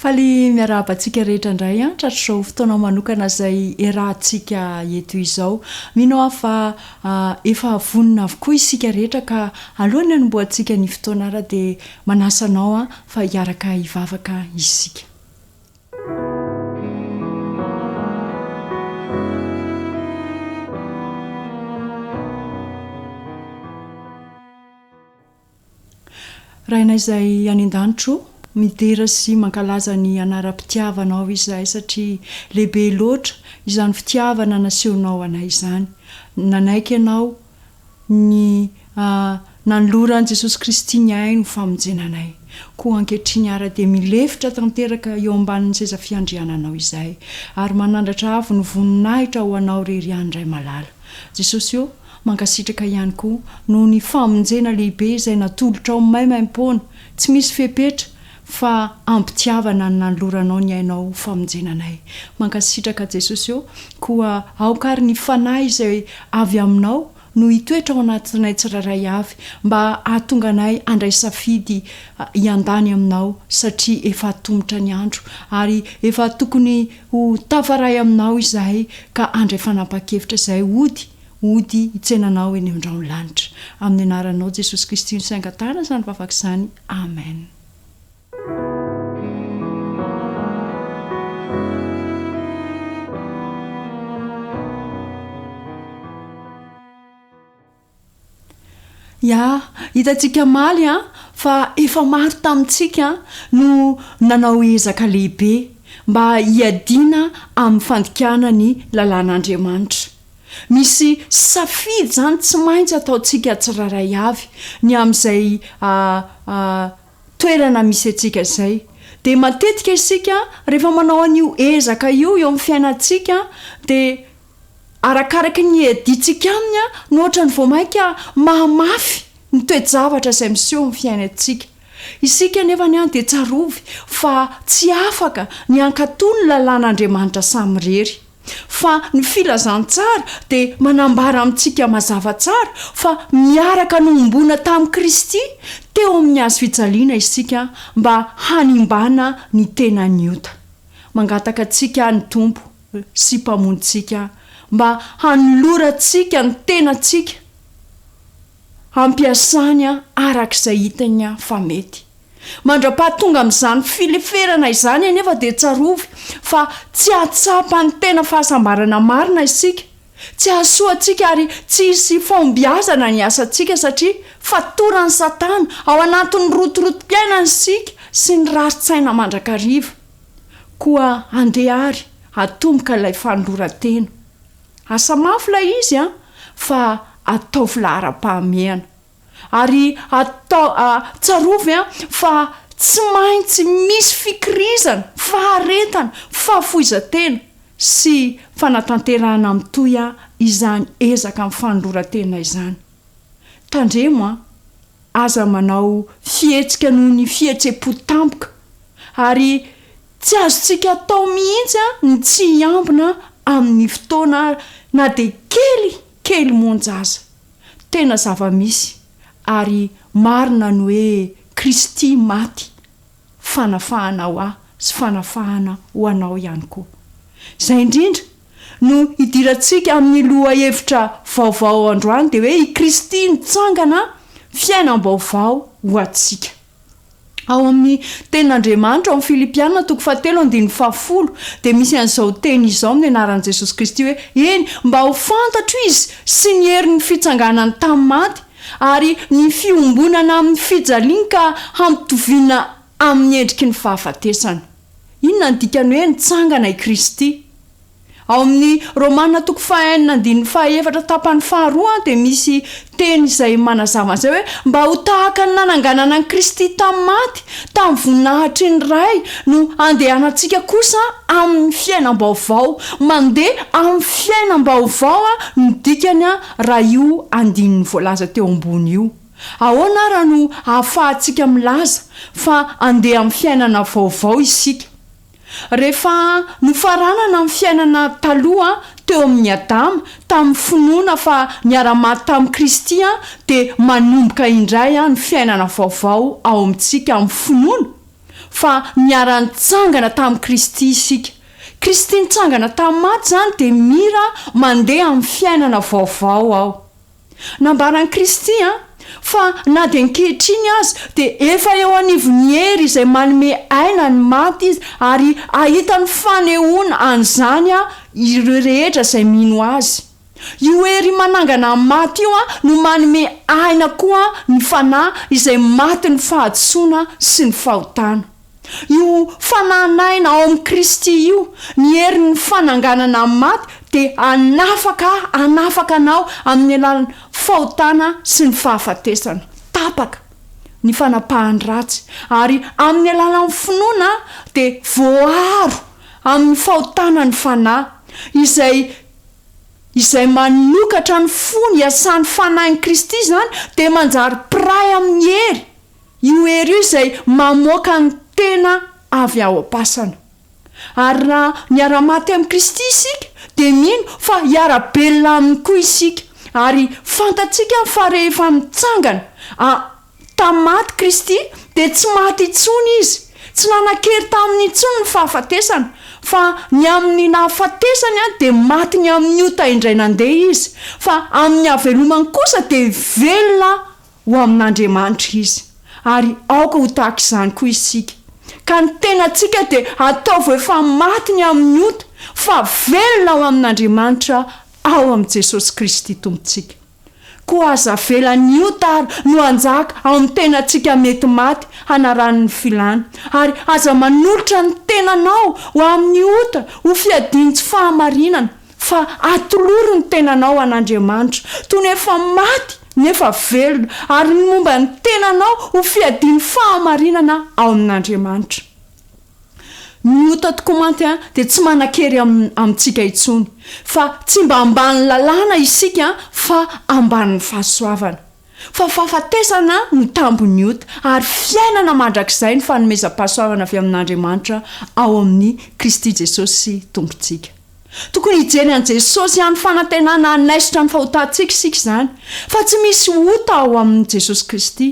Faly miarahaba antsika rehetra indray an, tratr'izao fotoana manokana izay erahantsika eto izao. Mino aho fa efa vonona avokoa isika rehetra ka alohan'ny hanombohantsika ny fotoana ary dia Manasa anao aho fa hiaraka hivavaka isika. Rainay izay any an-danitra o, midera sy mankalaza ny anaram-pitiavanao izahay satria lehibe loatra izany fitiavana nasehonao anay izany. Nanaiky ianao ny nanoloran'i Jesosy Kristy ny ainy ho famonjena anay. Koa ankehitriny ara dia milefitra tanteraka eo ambanin'ny seza fiandriananao izay, ary manandratra avo ny voninahitra ho anao irery ihany Ray malala. Jesosy ô, mankasitraka ihany koa noho ny famonjena lehibe izay natolotrao maimaimpoana, tsy misy fepetra, fa ampitiavana no nanoloranao ny ainao ho famonjena anay. Mankasitraka Jesosy ô, koa aoka ary ny Fanahy izay avy aminao no hitoetra ao anatinay tsirairay avy mba hahatonga anay handray safidy hiandany aminao satria efa atomotra ny andro ary efa tokony ho tafaray aminao izahay ka handray fanapahan-kevitra izay hody Hody hitsenanao eny amindrao ny lanitra. Amin'ny anaranao Jesosy Kristy no sainga tana izany vavaka izany. Amen. Ya, hitantsika maly an, fa efa maro tamintsika an, no nanao ezaka lehibe mba hiadiana amin'ny fandikana ny lalàn'Andriamanitra. Misy safidy izany tsy maintsy ataontsika tsirairay avy, ny amin'izay toerana misy antsika izay. Dia matetika isika rehefa manao an'io ezaka io eo amin'ny fiainantsika dia arakaraky ny iadiantsika aminy no ohatrany vao mainka mahamafy ny toe-javatra izay miseho amin'ny fiainantsika. Isika anefa dia tsarovy fa tsy afaka ny hankatò ny lalàn'Andriamanitra samirery. Fa ny Filazantsara dia manambara amintsika mazava tsara fa miaraka nohomboana tamin'i Kristy teo amin'ny Hazo fijaliana isika mba hanimbana ny tenan'ny ota. Mangataka antsika ny Tompo sy Mpamonjintsika mba hanolorantsika ny tenantsika hampiasany araka izay hitany fa mety. Mandra-pahatonga amin'izany fileferana izany anefa dia tsarovy fa tsy hahatsapa ny tena fahasambarana marina isika, tsy hahasoa antsika ary tsy hisy hifahombiazana ny asantsika satria fatoran'i Satana ao anatin'ny rotorotom-piainana isika sy ny rarin-tsaina mandrakariva. Koa andeha àry hatomboka ilay fanoloran-tena. Asa mafy ilay izy an, fa ataovy laharam-pahamehana. Ary atao, a, tsarovy an, fa tsy maintsy misy fikirizana, faharetana, fahafoizan-tena sy fanatanterahana mitohy an, izany ezaka amin'ny fanoloran-tena izany. Tandremo an, aza manao fihetsika noho ny fihetsem-po tampoka, ary tsy azontsika atao mihitsy an, ny tsy hiambina amin'ny fotoana na dia kely, kely monja aza. Tena zava-misy ary marina ny hoe Kristy maty, fanafahana ho ahy sy fanafahana ho anao ihany koa. Izay indrindra no hidirantsika amin'ny lohahevitra vaovao androany dia hoe i Kristy nitsangana fiainam-baovao ho antsika. Ao amin'ny Tenin'Andriamanitra, ao amin'ny Filipiana toko fahatelo andininy fahafolo, dia misy an'izao teny izao amin'ny anaran'i Jesosy Kristy hoe, Eny, mba ho fantatro Izy sy ny herin'ny fitsanganany tamin'ny maty, ary ny fiombonana amin'ny fijaliany ka hampitoviana amin'ny endriky ny fahafatesana. Inona no dikan'ny hoe nitsangana i Kristy? Ao amin'ny Romana toko fahaenina andininy fahaefatra tapany faharoa dia misy teny izay manazava an'izay hoe mba ho tahaka ny nananganana an'i Kristy tamin'ny maty tamin'ny voninahitry ny Ray no andehanantsika kosa amin'ny fiainam-baovao mandeha amin'ny fiainam-baovao no dikany raha io andininy voalaza teo ambony io ahoana ary no ahafahantsika milaza fa andeha amin'ny fiainana vaovao isika Rehefa nofaranana ny fiainana taloha teo amin' i Adama tamin' ny finoana fa niara-maty tamin' i Kristy, dia manomboka indray ny fiainana vaovao ao amintsika amin' ny finoana fa niara-nitsangana tamin' i Kristy isika. Kristy nitsangana tamin'ny maty izany dia mira mandeha amin'ny fiainana vaovao ao. Nambaran'i Kristy fa na dia ankehitriny aza dia efa eo anivon'ny hery izay manome aina ny maty izy ary ahitany fanehoana an'izany ireo rehetra izay mino azy. Io hery manangana ny maty io no manome aina koa ny fanahy izay matin'ny fahadisoana sy ny fahotana. Io fanan'aina ao amin'i Kristy io, ny herin'ny fananganana amin'ny maty, dia hanafaka ahy, hanafaka anao amin'ny alalan'ny fahotana sy ny fahafatesana. Tapaka ny fanapahan'ny ratsy, ary amin'ny alalan'ny finoana dia voaaro amin'ny fahotana ny Fanahy, izay izay manokatra ny fony iasan'ny Fanahin'i Kristy izany dia manjary mpiray amin'ny hery Io hery io izay mamoaka ny tena avy ao am-pasana. Ary raha miara-maty amin'i Kristy isika, dia mino fa hiara-belona Aminy koa isika. Ary fantatsika fa rehefa nitsangana a, tamin'ny maty Kristy, dia tsy maty intsony Izy. Tsy nanan-kery taminy intsony ny fahafatesana, fa ny amin'ny nahafatesany dia maty ny amin'ny ota indray nandeha Izy, fa amin'ny hahavelomany kosa dia velona ho amin'Andriamanitra izy, ary aoka ho tahaka izany koa isika. Ka ny tenantsika dia ataovy ho efa maty ny amin'ny ota, fa velona ao amin'Andriamanitra ao amin'i Jesosy Kristy Tompontsika. Koa aza avela ny ota àry no hanjaka ao amin'ny tenantsika mety maty hanarany ny filàna, ary aza manolotra ny tenanao ho amin'ny ota ho fiadian'ny tsy fahamarinana, Fa atolory ny tenanao an'Andriamanitra, toy ny efa maty nefa velona, ary ny momba ny tenanao ho fiadian'ny fahamarinana ao amin'Andriamanitra. Ny ota tokoa mantsy dia tsy manan-kery amintsika intsony, fa tsy mba ambanin'ny lalàna isika fa ambanin'ny fahasoavana. Fa fahafatesana no tambin'ny ota, ary fiainana mandrakizay ny fanomezam-pahasoavana avy amin'Andriamanitra ao amin'i Kristy Jesosy Tompontsika. Tokony hijery an'i Jesosy ihany fanantenana hanaisotra ny fahotantsika isika izany, fa tsy misy ota ao amin'i Jesosy Kristy.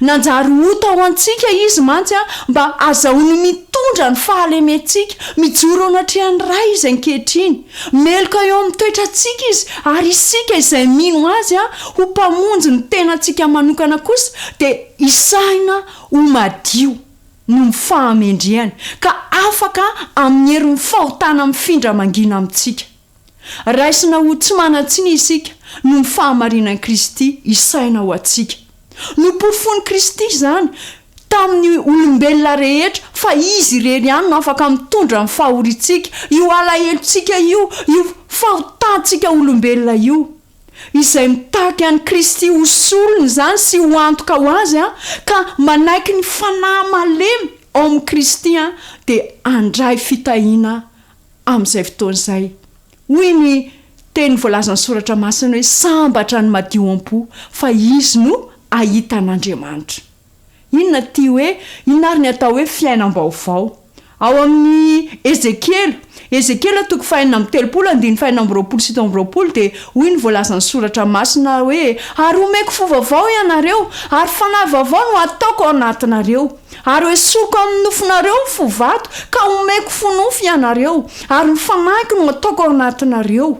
Nanjary ota ho antsika Izy mantsy mba hazahoany mitondra ny fahalementsika, mijoro eo anatrehan'ny Ray Izy ankehitriny. Meloka eo amin'ny toetrantsika Izy, ary isika izay mino Azy ho Mpamonjy ny tenantsika manokana kosa dia hisahina ho madio. noho ny fahamendrehany, ka afaka amin'ny herin'ny fahotana mifindra mangina amintsika. Raisina ho tsy manan-tsiny isika noho ny fahamarinan'i Kristy isaina ho antsika. Nopofoin'i Kristy izany tamin'ny olombelona rehetra fa Izy irery ihany no afaka mitondra ny fahoriantsika, io alahelontsika io, io fahotantsika olombelona io. izay mitaky an'i Kristy ho solony izany sy ho antoka ho Azy ka manaiky ny fanahy malemy ao amin'i Kristy dia handray fitahiana amin'izay fotoana izay. Hoy ny teny voalazan'ny Soratra Masina hoe, Sambatra ny madio am-po, fa izy no hahita an'Andriamanitra. Inona ity hoe inona ary ny atao hoe fiainam-baovao? Ao amin'ny Ezekiela, Ezekiela toko fahenina amby telopolo andininy fahenina amby roapolo sy fito amby roapolo dia hoy ny voalazan'ny Soratra Masina hoe, Ary homeko fo vaovao ianareo, ary fanahy vaovao no hataoko ao anatinareo. Ary hoesoriko amin'ny nofonareo ny fo vato, ka homeko fo nofo ianareo, ary ny fanahiko no hataoko ao anatinareo.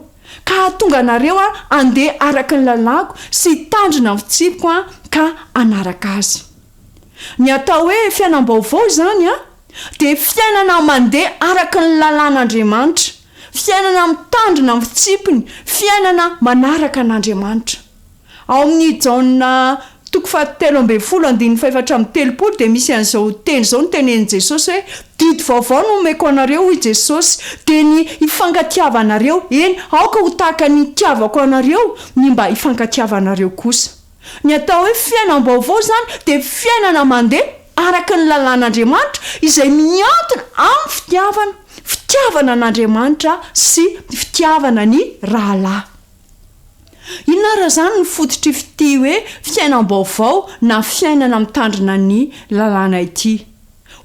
Ka hahatonga anareo handeha araka ny lalàko sy hitandrina ny fitsipiko ka hanaraka azy. Ny atao hoe fiainam-baovao izany dia fiainana mandeha araka ny lalàn'Andriamanitra, fiainana mitandrina ny fitsipiny, fiainana manaraka an'Andriamanitra. Ao amin' i Jaona toko fahatelo ambin'ny folo andininy fahefatra amby telopolo dia misy an' izao teny izao notenenin' Jesosy hoe, Didy vaovao no omeko anareo, hoy Jesosy, dia ny hifankatiavanareo, eny, aoka ho tahaka ny nitiavako anareo ny mba hifankatiavanareo kosa. Ny atao hoe fiainam-baovao izany dia fiainana mandeha araka ny lalàn' Andriamanitra izay miankina amin' ny fitiavana, fitiavana an' Andriamanitra sy fitiavana ny rahalahy. Inona ary azany no fototr'i f'ity hoe fiainam-baovao na fiainana mitandrina ny lalàna ity?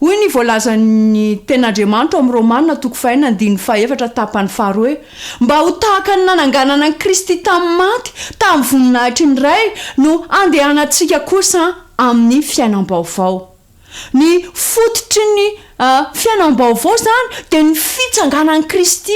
Hoy ny voalazan'ny Tenin'Andriamanitra ao amin'ny Romana toko fahenina andininy fahefatra tapany faharoa hoe, Mba ho tahaka ny nananganana an'i Kristy tamin'ny maty tamin'ny voninahitry ny Ray no handehanantsika kosa amin'ny fiainam-baovao. Ny fototry ny fiainam-baovao izany dia ny fitsanganan'i Kristy.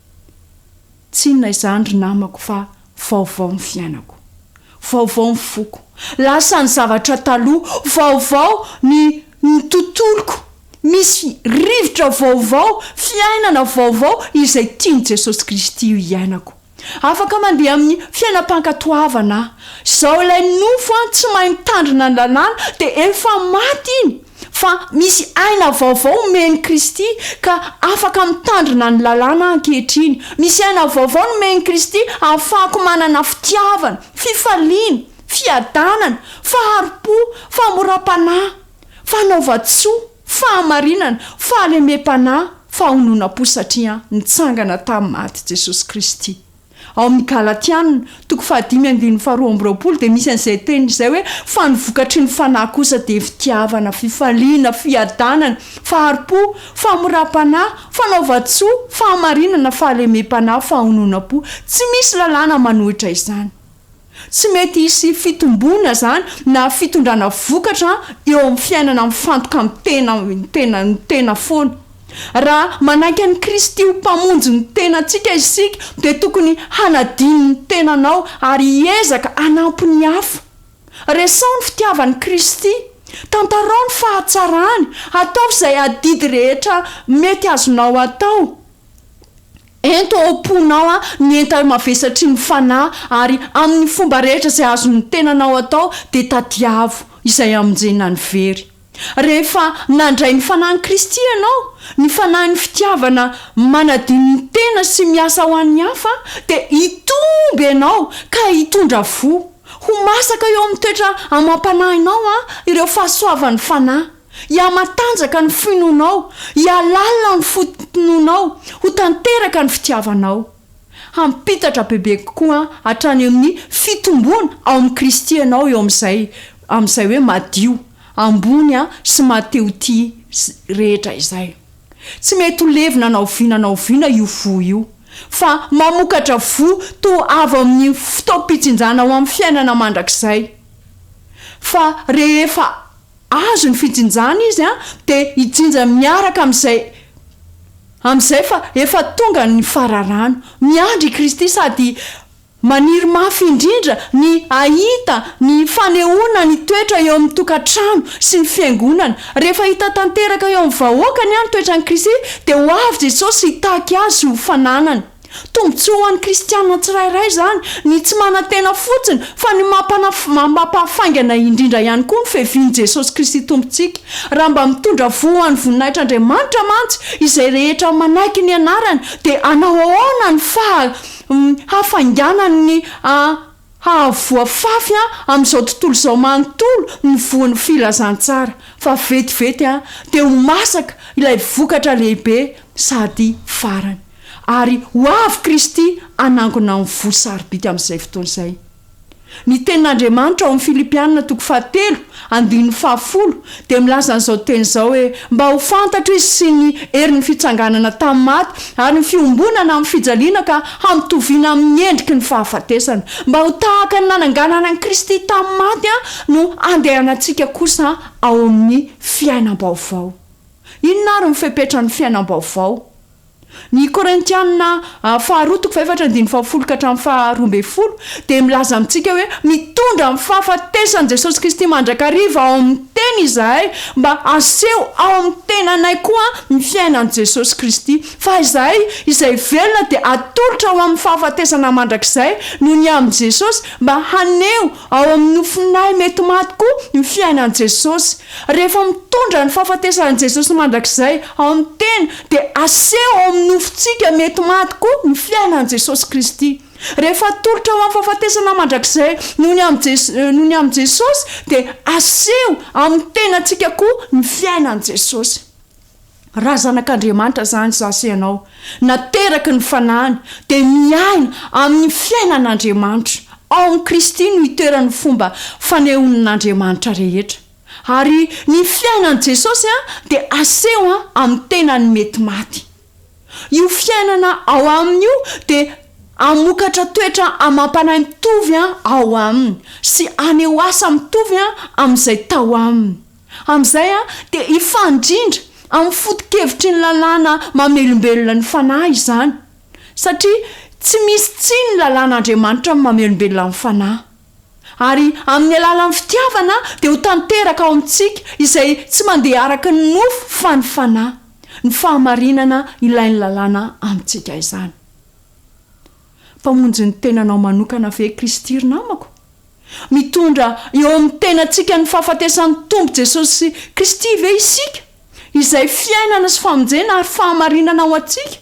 Tsy inona izany ry namako fa vaovao ny fiainako. Vaovao ny foko. Lasa ny zavatra taloha. Vaovao ny ny tontoloko. Misy rivotra vaovao, fiainana vaovao izay tian'i Jesosy Kristy ho iainako. Afaka mandeha amin'ny fiainam-pankatoavana aho. Izao ilay nofo an, tsy mahay mitandrina ny lalàna dia efa maty iny. fa misy aina vaovao omen'i Kristy ka afaka mitandrina ny lalàna aho ankehitriny. Misy aina vaovao nomen'i Kristy hahafahako manana fitiavana, fifaliana, fiadanana, fahari-po, famoram-panahy, fanaovan-tsoa, fahamarinana, fahalemem-panahy, fahononam-po satria nitsangana tamin'ny maty Jesosy Kristy. Ao amin'ny Galatiana, toko fahadimy andininy faharoa amby roapolo, dia misy an'izay teny izay hoe, Fa ny vokatry ny fanahy kosa dia fitiavana, fifaliana, fiadanana, fahari-po, famoram-panahy, fanaovan-tsoa, fahamarinana, fahalemem-panahy, fahononam-po. Tsy misy lalàna manohitra izany. Tsy mety hisy fitomboana izany na fitondrana vokatra eo amin'ny fiainana mifantoka amin'ny tena ny tena ny tena foana. Raha manaiky an'i Kristy ho Mpamonjy ny tenantsika isika dia tokony hanadino ny tenanao ary hiezaka hanampy ny hafa. Resaho ny fitiavan'i Kristy. Tantarao ny fahatsarany. Ataovy izay adidy rehetra mety azonao atao. Ento ao am-ponao ny entana mavesatry ny Fanahy, ary amin'ny fomba rehetra izay azon'ny tenanao atao, dia tadiavo izay hamonjena ny very. Rehefa nandray ny Fanahin'i Kristy ianao, ny Fanahin'ny fitiavana manadino ny tena sy miasa ho an'ny hafa, dia hitombo ianao ka hitondra voa. Ho masaka eo amin'ny toetra amam-panahinao ireo fahasoavan'ny Fanahy. Hihamatanjaka ny finoanao, hihalalina ny fotontononao, ho tanteraka ny fitiavanao. Hampitatra bebe kokoa hatrany amin'ny fitomboana ao amin'i Kristy ianao eo amin'izay amin'izay hoe madio, ambony sy mahate-ho-tia rehetra izay. Tsy mety ho levona na oviana na oviana io fo io, fa mamokatra fo toa avy amin'ny fotoam-pitsinjana ho amin'ny fiainana mandrakizay, fa rehefa azo ny fijinjana izy an dia hijinja miaraka amin'izay amin'izay fa efa tonga ny fararano. Miandry i Kristy sady maniry mafy indrindra ny hahita ny fanehoana ny toetra eo amin'ny tokantrano sy ny fiangonana. Rehefa hita tanteraka eo amin'ny vahoakany an ny toetran'i Kristy dia ho avy Jesosy hitaky azy ho fananany. Tombontsoa ho an'ny kristiana tsirairay izany ny tsy manantena fotsiny fa ny mampahafaingana indrindra ihany koa ny fiavian'i Jesosy Kristy Tompontsika. Raha mba mitondra voa ho an'ny voninahitr'Andriamanitra mantsy izay rehetra manaiky ny anarany dia hanao ahoana ny fahafainganany hahavoafafy amin'izao tontolo izao manontolo ny voan'ny filazantsara fa vetivety dia ho masaka ilay vokatra lehibe sady farany. Ary ho avy Kristy hanangona ny fo sarobidy amin'izay fotoana izay. Ny Tenin'Andriamanitra ao amin'ny Filipianina toko fahatelo, andininy fahafolo, dia milaza an'izao teny izao hoe, Mba ho fantatro izy sy ny herin'ny fitsanganana tamin'ny maty ary ny fiombonana amin'ny fijaliana ka hampitoviana amin'ny endriky ny fahafatesana, mba ho tahaka ny nananganana an'i Kristy tamin'ny maty no handehanantsika kosa ao amin'ny fiainam-baovao. Inona ary ny fepetran'ny fiainam-baovao? Ny Korintiana faharoa toko fahefatra andininy fahafolo ka hatramin'ny faharoa ambin'ny folo dia milaza amintsika hoe mitondra amin'ny fahafatesan'i Jesosy Kristy mandrakariva ao amin'ny tena izahay mba haseho ao amin'ny tenanay koa ny fiainan'i Jesosy Kristy fa izahay izay velona dia atolotra ho amin'ny fahafatesana mandrakizay noho ny amin'i Jesosy mba haneho ao amin'ny nofinay mety maty koa ny fiainan'i Jesosy Rehefa mitondra ny fahafatesan'i Jesosy mandrakizay ao amin'ny tena, dia aseho ao amin'ny nofontsika mety maty koa ny fiainan'i Jesosy Kristy. Rehefa atolotra ho amin'ny fahafatesana mandrakizay noho ny amin'i noho ny amin'i Jesosy, dia aseho amin'ny tenantsika koa ny fiainan'i Jesosy. Raha zanak'Andriamanitra izany izaho sy ianao, nateraky ny Fanahiny, dia miaina amin'ny fiainan'Andriamanitra. Ao amin'i Kristy no itoeran'ny fomba fanehoan'Andriamanitra rehetra. Ary ny fiainan'i Jesosy dia aseho amin'ny tenany mety maty. Io fiainana ao aminy io dia hamokatra toetra amam-panahy mitovy ao aminy, sy haneho asa mitovy amin'izay tao aminy. Amin'izay dia hifandrindra amin'ny foto-kevitry ny lalàna mamelombelona ny fanahy izany, satria tsy misy tsia ny lalàn'Andriamanitra amin'ny mamelombelona ny fanahy. Ary amin'ny alalan'ny fitiavana dia ho tanteraka ao amintsika izay tsy mandeha araka ny nofo fa ny fanahy, ny fahamarinana ilain'ny lalàna amintsika izany. Mpamonjy ny tenanao manokana ve Kristy ry namako? Mitondra eo amin'ny tenantsika ny fahafatesan'ny Tompo Jesosy Kristy ve isika, izay fiainana sy famonjena ary fahamarinana ho antsika?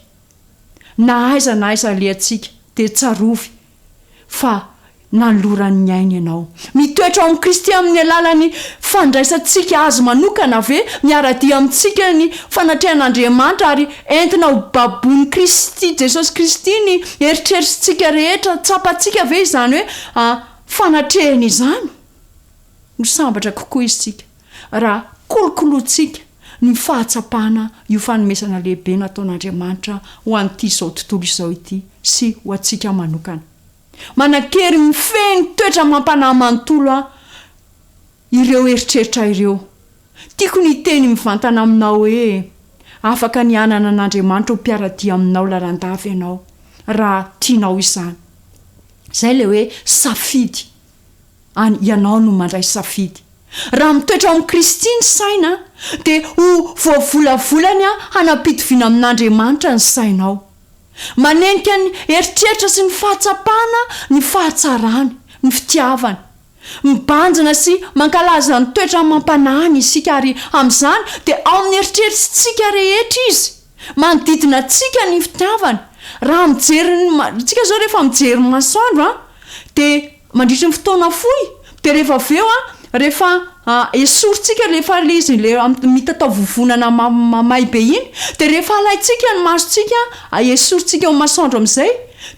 Na aiza na aiza alehantsika, dia tsarovy fa nanoloran'ny ainy ianao. Mitoetra ao amin'i Kristy amin'ny alalan'ny fandraisantsika Azy manokana ve? Miara-dia amintsika ny fanatrehan'Andriamanitra ary entina ho babon'i Kristy Jesosy Kristy ny eritreritrintsika rehetra. Tsapantsika ve izany hoe A Fanatrehana izany, ho sambatra kokoa isika raha kolokolointsika ny fahatsapana io fanomezana lehibe nataon'Andriamanitra ho an'ity izao tontolo izao ity sy ho antsika manokana. Manan-kery mifehy ny toetra mampanahy manontolo aho ireo eritreritra ireo. Tiako ny hiteny mivantana aminao hoe afaka ny hanana an'Andriamanitra ho mpiara-dia aminao lalandava ianao, raha tianao izany. Izay ilay hoe safidy. Any, ianao no mandray safidy. Raha mitoetra ao amin'i Kristy ny saina, dia ho voavolavolany hanam-pitoviana amin'Andriamanitra ny sainao. Manenika ny eritreritra sy ny fahatsapana ny fahatsarany, ny fitiavany. Mibanjina sy mankalaza ny toetra amam-panahiny isika, ary amin'izany dia ao amin'ny eritreritrintsika rehetra Izy. Manodidina antsika ny fitiavana. Raha mijery ny ma, tsika zao rehefa mijery ny masoandro an, de mandritry ny fotoana fohy, de rehefa avy eo an, rehefa esorintsika rehefa le izy le mitatao vovonana ma- mamay be iny, de rehefa alaintsika ny masontsika an, esorintsika eo masoandro am'zay,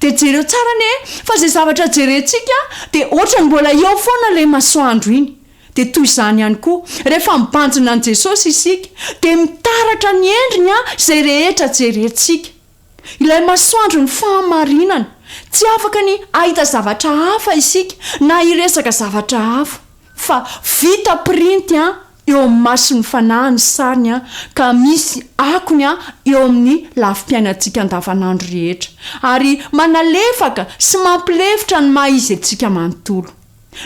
de jereo tsara anie fa ze zavatra jerentsika de ohatry ny mbola eo foana le masoandro iny. Dia toy izany ihany koa, rehefa mibanjina an'i Jesosy isika, dia mitaratra ny endriny izay rehetra jerentsika. Ilay masoandron'ny fahamarinana. Tsy afaka ny hahita zavatra hafa isika, na hiresaka zavatra hafa. Fa vita pirinty eo amin'ny mason'ny Fanahy ny sariny, ka misy akony eo amin'ny lafim-piainantsika andavanandro rehetra, ary manalefaka sy mampilefitra ny maha-izy antsika manontolo.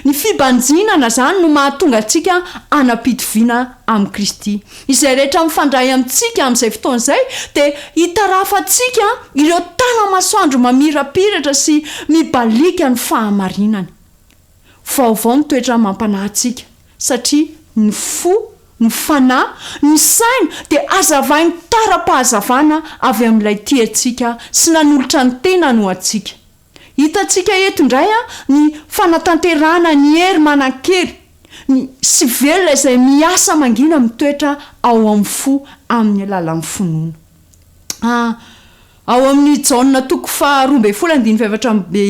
Ny fibanjinana izany no mahatonga antsika hanam-pitoviana amin'i Kristy. Izay rehetra mifandray amintsika amin'izay fotoana izay dia hitarafantsika ireo tana-masoandro mamirapiratra sy mibaliaka ny fahamarinana. Vaovao ny toetra amam-panahy antsika, satria ny fo, ny fanahy, ny saina dia hazavain'ny tara-pahazavana avy amin'ilay tia antsika sy nanolotra ny tenany ho antsika. Hitantsika eto indray ny fanatanterahana ny hery manan-kery, ny sy velona izay miasa mangina mitoetra ao amin'ny fo amin'ny alalan'ny finoana. A Ao amin'ny Jaona toko faha roa ambin'ny folo andininy faha efatra amby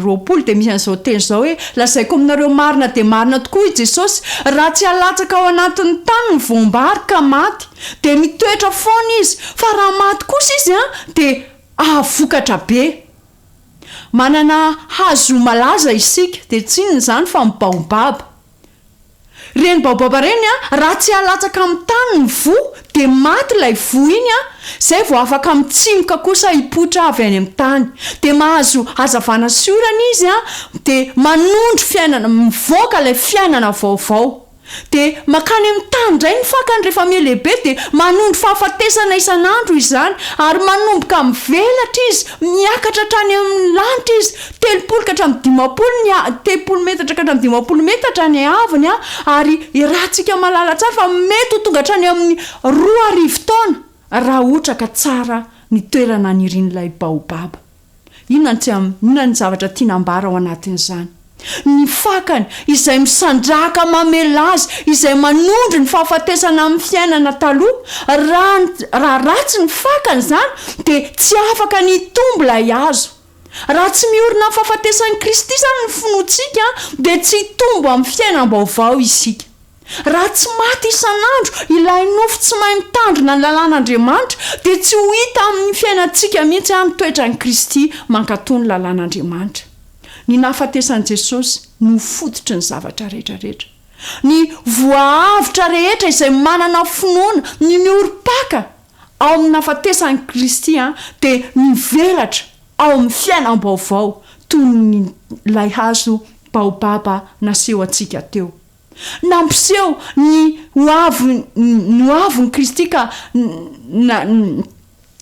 roapolo dia misy an'izao teny izao hoe, Lazaiko aminareo marina dia marina tokoa i Jesosy, raha tsy alatsaka ao anatin'ny tany ny voam-bary ka maty, dia mitoetra foana izy, fa raha maty kosa izy dia hahavokatra be. Manana hazo malaza isika dia tsinona izany fa ny baobaba. Ireny baobaba ireny raha tsy alatsaka amin'ny tany ny voa dia maty ilay voa iny izay vao afaka mitsimoka kosa hipoitra avy any amin'ny tany. Dia mahazo hazavana sy orana izy dia manondro fiainana, mivoaka ilay fiainana vaovao. Dia mankany amin'ny tany indray ny fakany rehefa mihalehibe dia manondro fahafatesana isan'andro izany ary manomboka mivelatra izy miakatra hatrany amin'ny lanitra izy telopolo ka hatramin'ny dimampolo ny telopolo metatra ka hatramin'ny dimampolo metatra ny haavony ary iarahantsika mahalala tsara fa mety ho tonga hatrany amin'ny roa arivo taona raha ohatra ka tsara ny toerana anirian'ilay baobaba. Inona ny tsy aminy? Inona ny zavatra tiana ambara ao anatin'izany? Ny fakany, izay misandrahaka mamelà azy, izay manondro ny fahafatesana amin'ny fiainana taloha. Raha ny, raha ratsy ny fakany izany, dia tsy afaka ny hitombo ilay hazo. Raha tsy miorina amin'ny fahafatesan'i Kristy izany ny finoantsika, dia tsy hitombo amin'ny fiainam-baovao isika. Raha tsy maty isan'andro ilay nofo tsy mahay mitandrina ny lalàn'Andriamanitra, dia tsy ho hita amin'ny fiainantsika mihitsy àry ny toetran'i Kristy mankatò ny lalàn'Andriamanitra. Ny nahafatesan'i Jesosy no fototry ny zavatra rehetra rehetra. Ny voa avotra rehetra izay manana finoana ny miorim-paka ao amin'ny nahafatesan'i Kristy dia mivelatra ao amin'ny fiainam-baovao toy ny ilay hazo baobaba naseho antsika teo. Nampiseho ny ho avy ny ho avin'i Kristy ka na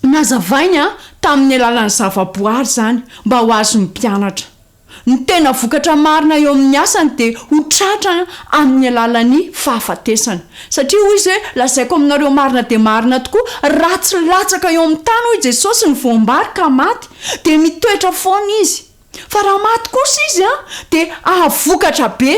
nazavainy tamin'ny alalan'ny zavaboary izany mba ho azon'ny mpianatra. Ny tena vokatra marina eo amin'ny asany dia ho tratra amin'ny alalan'ny fahafatesany. Satria hoy izy hoe, Lazaiko aminareo marina dia marina tokoa, raha tsy latsaka eo amin'ny tany hoy Jesosy ny voam-bary ka maty, dia mitoetra foana izy. Fa raha maty kosa izy an, dia ahavokatra be.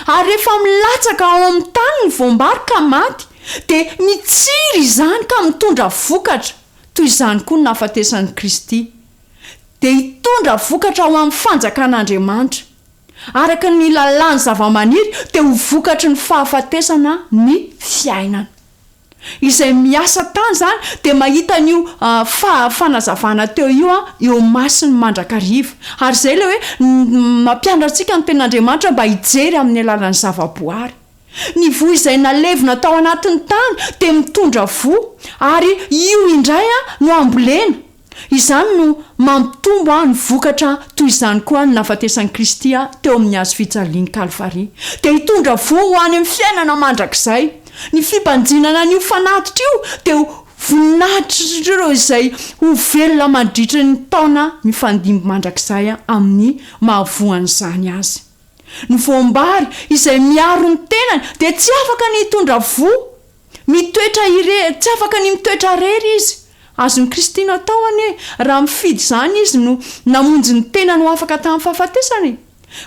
Ary rehefa milatsaka ao amin'ny tany ny voam-bary ka maty, dia mitsiry izany ka mitondra vokatra. Toy izany koa ny nahafatesan'i Kristy. Dia hitondra vokatra ho amin'ny fanjakan'Andriamanitra. Araka ny lalàn'ny zavamaniry, dia ho vokatry ny fahafatesana ny fiainana. Izay miasa tany izany dia mahita an'io fanazavana teo io eo masony mandrakariva. Ary izay ilay hoe mampianatra antsika ny Tenin'Andriamanitra mba hijery amin'ny alalan'ny zavaboary. Ny voa izay nalevina tao anatin'ny tany dia mitondra voa, ary io indray no ambolena. Izany no mampitombo aho ny vokatra toy izany koa ny nahafatesan'i Kristy ahy teo amin'ny hazo fijalian'i Kalvary dia hitondra voa ho any amin'ny fiainana mandrakizay. Ny fibanjinana an'io fanatitra io dia ho voninahitr'ireo izay ho velona mandritry ny taona mifandimby mandrakizay amin'ny mahavoa an'izany azy. Ny voam-bary izay miaro ny tenany dia tsy afaka ny hitondra voa Mitoetra irery, tsy afaka ny mitoetra irery izy. Azon'i Kristy natao anie, raha mifidy izany izy no namonjy ny tenany ho afaka tamin'ny fahafatesana e.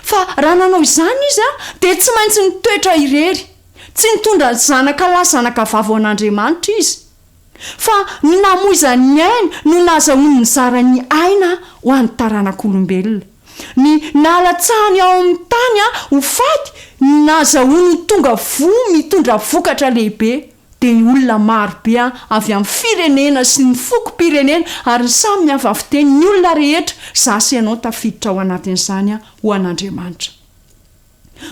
Fa raha nanao izany izy dia tsy maintsy nitoetra irery. Tsy nitondra ny zanaka lahy zanaka vavy ho an'Andriamanitra izy. Fa ny namoizany ny ainy no nazahoany nizara ny aina ho an'ny taranak'olombelona. Ny nalatsahany ao amin'ny tany ho faty no nahazahoany ho tonga voa mitondra vokatra lehibe, dia ny olona marobe avy amin'ny firenena sy ny fokom-pirenena ary ny samy miava fiteny, ny olona rehetra, za sy ianao tafiditra ao anatin'izany ho an'Andriamanitra.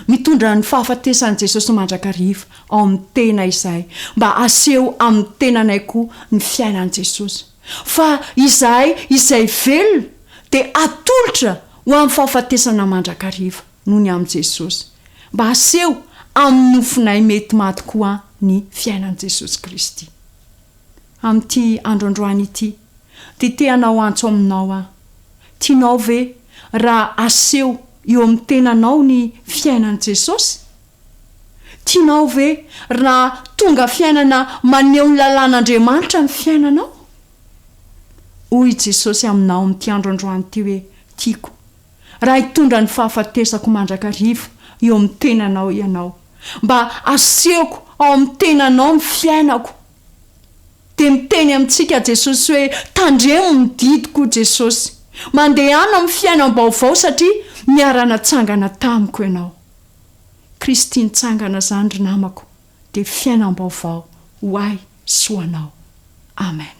Mitondra ny fahafatesan'i Jesosy mandrakariva ao amin'ny tena izahay mba haseho amin'ny tenanay koa ny fiainan'i Jesosy. Fa izahay izay velona dia atolotra ho amin'ny fahafatesana mandrakariva noho ny amin'i Jesosy, mba haseho amin'ny nofinay mety maty koa ny fiainan'i Jesosy Kristy. Amin'ity andro androany ity, dia te hanao antso aminao aho. Tianao ve raha aseho eo amin'ny tenanao ny fiainan'i Jesosy? Tianao ve raha tonga fiainana maneho ny lalàn'Andriamanitra ny fiainanao? Hoy i Jesosy aminao amin'ity andro androany ity hoe, Tiako. raha hitondra ny fahafatesako mandrakariva eo amin'ny tenanao ianao, mba asehoko ao amin'ny tenanao ny fiainako. Dia miteny amintsika Jesosy hoe, tandremo ny didiko Jesosy. Mandehana amin'ny fiainam-baovao satria niara-natsangana tamiko ianao. Kristy nitsangana izany ry namako dia fiainam-baovao ho ahy sy ho anao. Amen.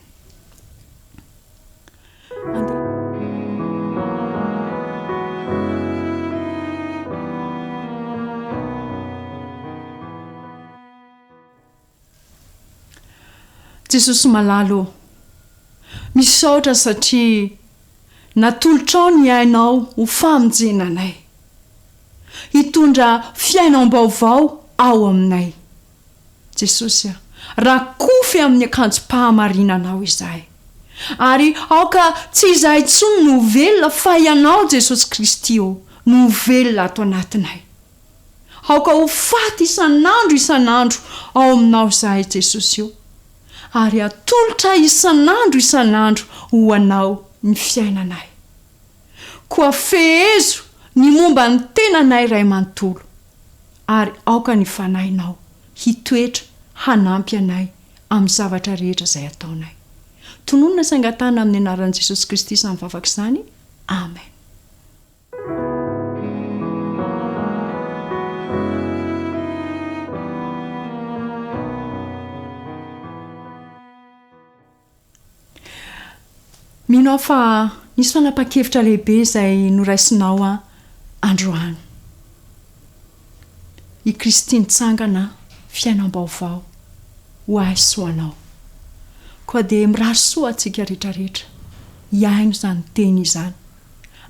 Jesosy malala ô! Misaotra satria natolotrao ny ainao ho famonjena anay. Hitondra fiainam-baovao ao aminay. Jesosy a, rakofy amin'ny akanjom-pahamarinanao izahay, ary aoka tsy izahay intsony no ho velona fa Ianao Jesosy Kristy ô no ho velona ato anatinay. Aoka ho faty isan'andro isan'andro ao Aminao izahay Jesosy ô, ary atolotra isan'andro isan'andro ho Anao ny fiainanay. Koa fehezo ny momba ny tenanay Ray manontolo, ary aoka ny Fanahinao hitoetra hanampy anay amin'ny zavatra rehetra izay ataonay. Tononina sy angatahana amin'ny anaran'i Jesosy Kristy izany vavaka izany. Amen. Mino aho fa nisy fanapahan-kevitra lehibe izay noraisinao androany. I Kristy nitsangana, fiainam-baovao ho ahy sy ho anao. Koa dia mirary soa antsika rehetrarehetra hihaino izany teny izany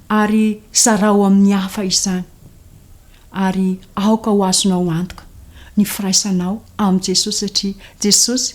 ary zarao amin'ny hafa izany. Ary aoka ho azonao antoka ny firaisanao amin'i Jesosy satria Jesosy